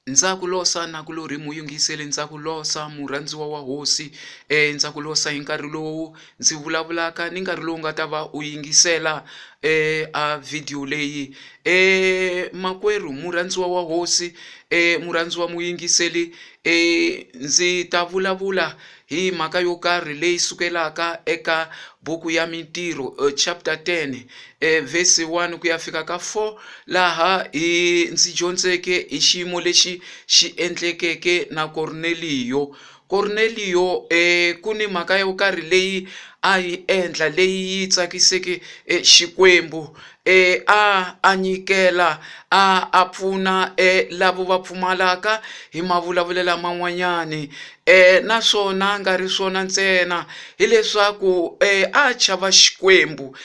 Ndza ku losa na ku lori muyingiseli ndza ku losa murhandziwa wa hosi e ndza ku losa hi nkarhi lowu ndzi vulavulaka ni nkarhi lowu nga ta va u yingisela e a video leyi e makwerhu murhandziwa wa hosi e murhandziwa muyingiseli e ndzi ta vulavula Hi mhaka yo karhi leyi sukelaka eka buku ya Mintirho eh, chapter 10 eh, verse 1 ku ya fika ka 4 laha hi ndzi dyondzeke hi xiyimo lexi xi endlekeke na Korneliyo. Korneliyo eh, ku ni mhaka yo karhi leyi a yi endla leyi yi tsakiseke eh, Xikwembu eh, a a nyikela a a pfuna eh, lavo va pfumalaka hi mavulavulelo laman'wanyani naswona a nga ri swona ntsena hileswaku a chava Xikwembu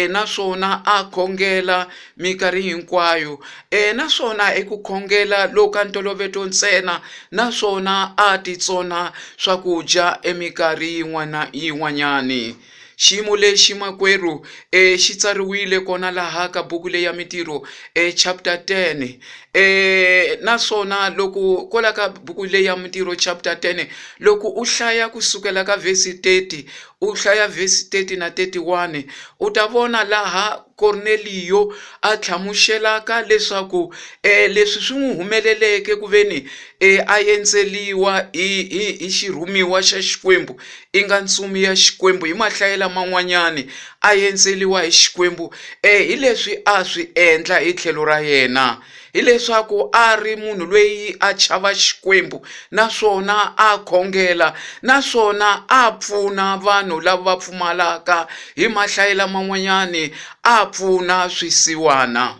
naswona a khongela minkarhi hinkwayo naswona i ku khongela loku ka ntolovelo ntsena naswona a titsona swakudya eminkarhi yin'wana yin'wanyani. Xiyimo lexi makwerhu e xi tsariwile kona laha ka buku leyi ya mintirho e chapter 10 e naswona loko kola ka buku leyi ya mintirho chapter 10 loko u hlaya kusukela ka vhesi 30 u hlaya vhesi 30 na 31 u ta vona laha Korneliyo a tlhamuxelaka leswaku um leswi swi n'wi humeleleke ku ve ni um a endzeliwa hi hi hi xirhumiwa xa Xikwembu i nga ntsumi ya Xikwembu hi mahlayela man'wanyani a endzeliwa hi Xikwembu um hi leswi a swi endla hi tlhelo ra yena hileswaku a ri munhu loyi a chava Xikwembu naswona a khongela naswona a pfuna vanhu lava va pfumalaka hi mahlayi laman'wanyani a pfuna swisiwana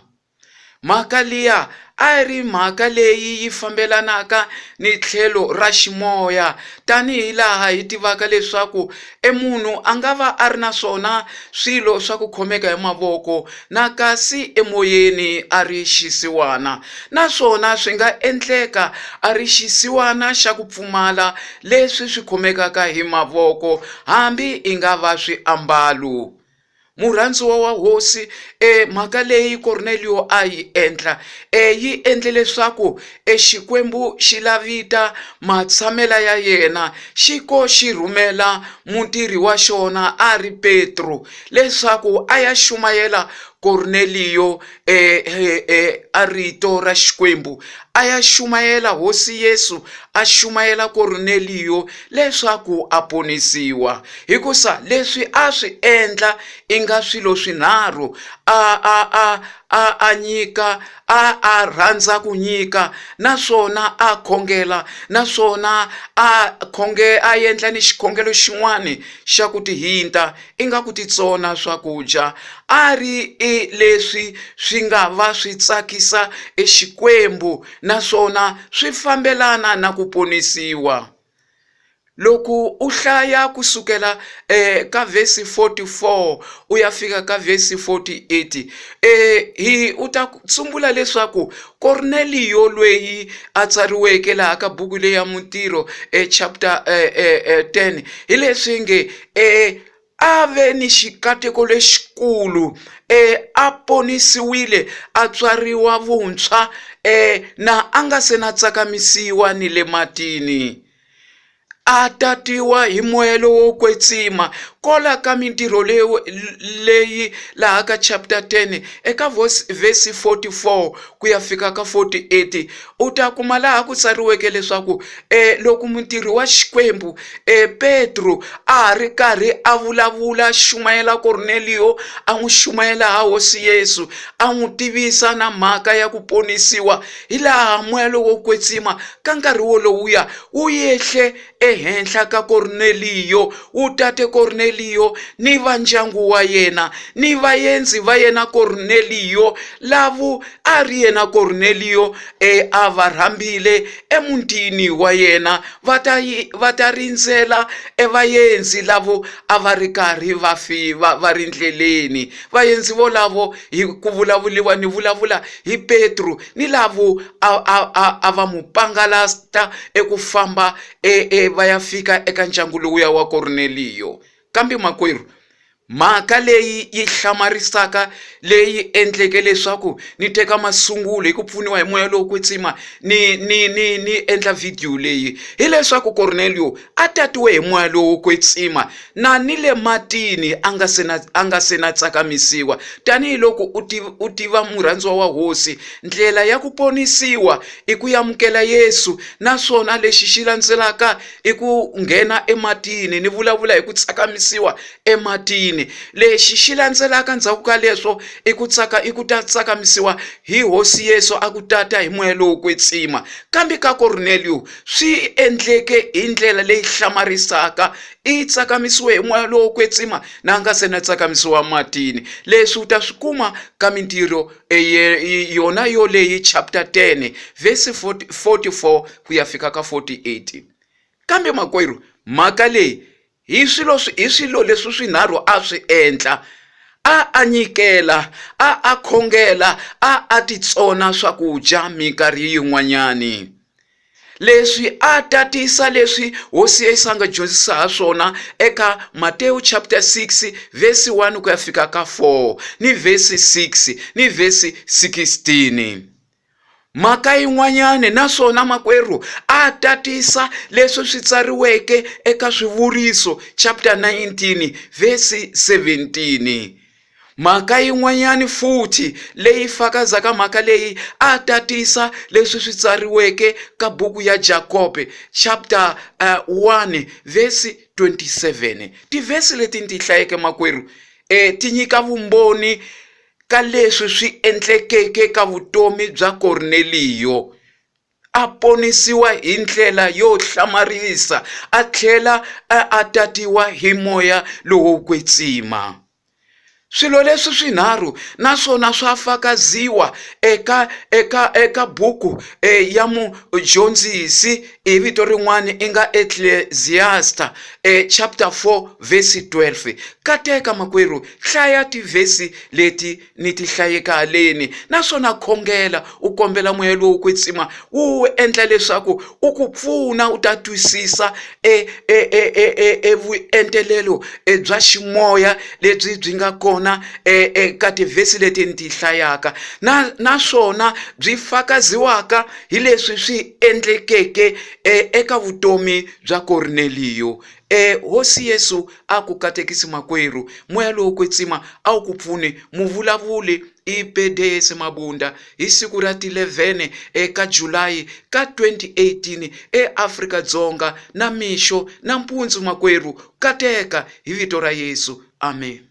mhaka liya a yi ri mhaka leyi yi fambelanaka ni tlhelo ra ximoya tanihi laha hi tivaka leswaku E munhu a nga va a ri na swona swilo swa ku khomeka hi mavoko na kasi emoyeni a ri xisiwana, naswona swi nga endleka a ri xisiwana xa ku pfumala leswi swi khomekaka hi mavoko, hambi i nga va swiambalo. murhandziwa wa hosi e mhaka leyi korneliyo a yi endla e yi endle leswaku e xikwembu xi lavita matshamela ya yena xi ko xi rhumela mutirhi wa xona a ri petro leswaku a ya xumayela korneliyo e, e, e, a rito ra xikwembu a ya xumayela hosi yesu a xumayela korneliyo leswaku a ponisiwa hikusa leswi a swi endla i nga swilo swinharhu a a a a a nyika a a rhandza ku nyika naswona a khongela naswona a khonge a endla ni xikhongelo xin'wani xa ku tihinta ingaku titsona swakudya, a ri e leswi swi nga va swi tsakisa e Xikwembu naswona swi fambelana na ku ponisiwa. Loko u hlaya ku sukela e ka vhesi 44 u ya fika ka vhesi 48, e hi u ta tsumbula leswaku Korneliyo lweyi a tsariweke laha ka buku leyi ya Mintirho e chapter 10 hi leswi nge e a ve ni xikateko lexikulu e a ponisiwile a tswariwa vuntshwa e na a nga se na tsakamisiwa ni le matini a tatiwa hi moya lowo kwetsima kola ka mintirho leyo leyi laha ka chapter 10 eka vhesi 44 ku ya fika ka 48 u ta kuma laha ku tsariweke leswaku e loko mutirhi wa xikwembu e petro a ha ri karhi a vulavula xumayela korneliyo a n'wi xumayela ha hosi yesu a n'wi tivisa na mhaka ya ku ponisiwa hi laha moya lowo kwetsima ka nkarhi wolowuya wu yehle Ehenhla ka Korneliyo u tate Korneliyo ni va ndyangu wa yena, ni vaendzi va yena Korneliyo, lavu a ri yena Korneliyo e a va rhambile emutini wa yena, va ta va ta rindzela e vaendzi lavo a va ri karhi va fi va va ri ndleleni. Vaendzi volavo hi ku vulavuliwa ni vulavula hi Petru ni lavo a a a a va mu pangalasta eku famba e, e va ya fika eka ndyangu lowuya wa Korneliyo. Kambe makwerhu, mhaka leyi yi hlamarisaka leyi endleke leswaku ni teka masungulo hi ku pfuniwa hi moya lowo kwetsima ni ni ni ni endla vhidiyo leyi hileswaku Korneliyo a tatiwe hi moya lowo kwetsima na ni le matini a nga se na a nga se na tsakamisiwa tanihiloko u tiva u tiva murhandziwa wa hosi ndlela ya ku ponisiwa i ku amukela yesu naswona lexi xi landzelaka i ku nghena ematini ni vulavula hi ku tsakamisiwa ematini lexi xi landzelaka ndzhaku ka leswo i ku tsaka i ku ta tsakamisiwa hi hosi yesu a ku tata hi moya lowo kwetsima kambe ka korneliyo swi endleke hi ndlela leyi hlamarisaka i tsakamisiwe hi moya lowo kwetsima na nga se na tsakamisiwa matini leswi u ta swi kuma ka mintirho yona yoleyi chapter 10 vhesi 44 ku ya fika ka 48 kambe makwerhu mhaka leyi Hi swilo hi swilo leswi swinharhu a swi endla, a a nyikela, a a khongela, a a titsona swakudya minkarhi yin'wanyani. Leswi a tatisa leswi hosi ya Yesu a nga dyondzisa ha swona eka Matewu chapter 6 verse 1 ku ya fika ka 4 ni verse 6 ni verse 16. Mhaka yin'wanyana, naswona makwerhu a tatisa leswi swi tsariweke eka Swivuriso chapter 19 verse 17. Mhaka yin'wanyana futhi leyi fakazaka mhaka leyi a tatisa leswi swi tsariweke ka buku ya Jakobe chapter 1 eh, verse 27. Tivhesi leti ni ti hlayeke makwerhu eh, ti nyika vumbhoni ka leswi swi endlekeke ka vutomi bya Korneliyo, a ponisiwa hi ndlela yo hlamarisa a tlhela a tatiwa hi moya lowo kwetsima. Swilo leswi swinharhu na swona swa fakaziwa eka eka eka buku eh, ya mudyondzisi hi vito rin'wana i nga Ecclesiasta eh, chapter 4 verse 12. Kateka makwerhu Hlaya tivhesi leti ni ti hlayeke haleni naswona khongela u kombela moya lowo kwetsima wu endla leswaku u ku pfuna u ta twisisa e, e, e, e, e, e vuentelelo e bya ximoya lebyi byi nga kona e, e, ka tivhesi leti ni ti hlayaka na naswona byi fakaziwaka hi leswi swi endlekeke e, eka vutomi bya Korneliyo. E, Hosi Yesu a ku katekisi makwerhu moya lowo kwetsima a wu ku pfune muvulavuli i bedeyese mabunda hi siku ra ti 11 eka julayi ka 2018 eafrika dzonga na mixo na mpundzu makwerhu kateka hi vito ra yesu amen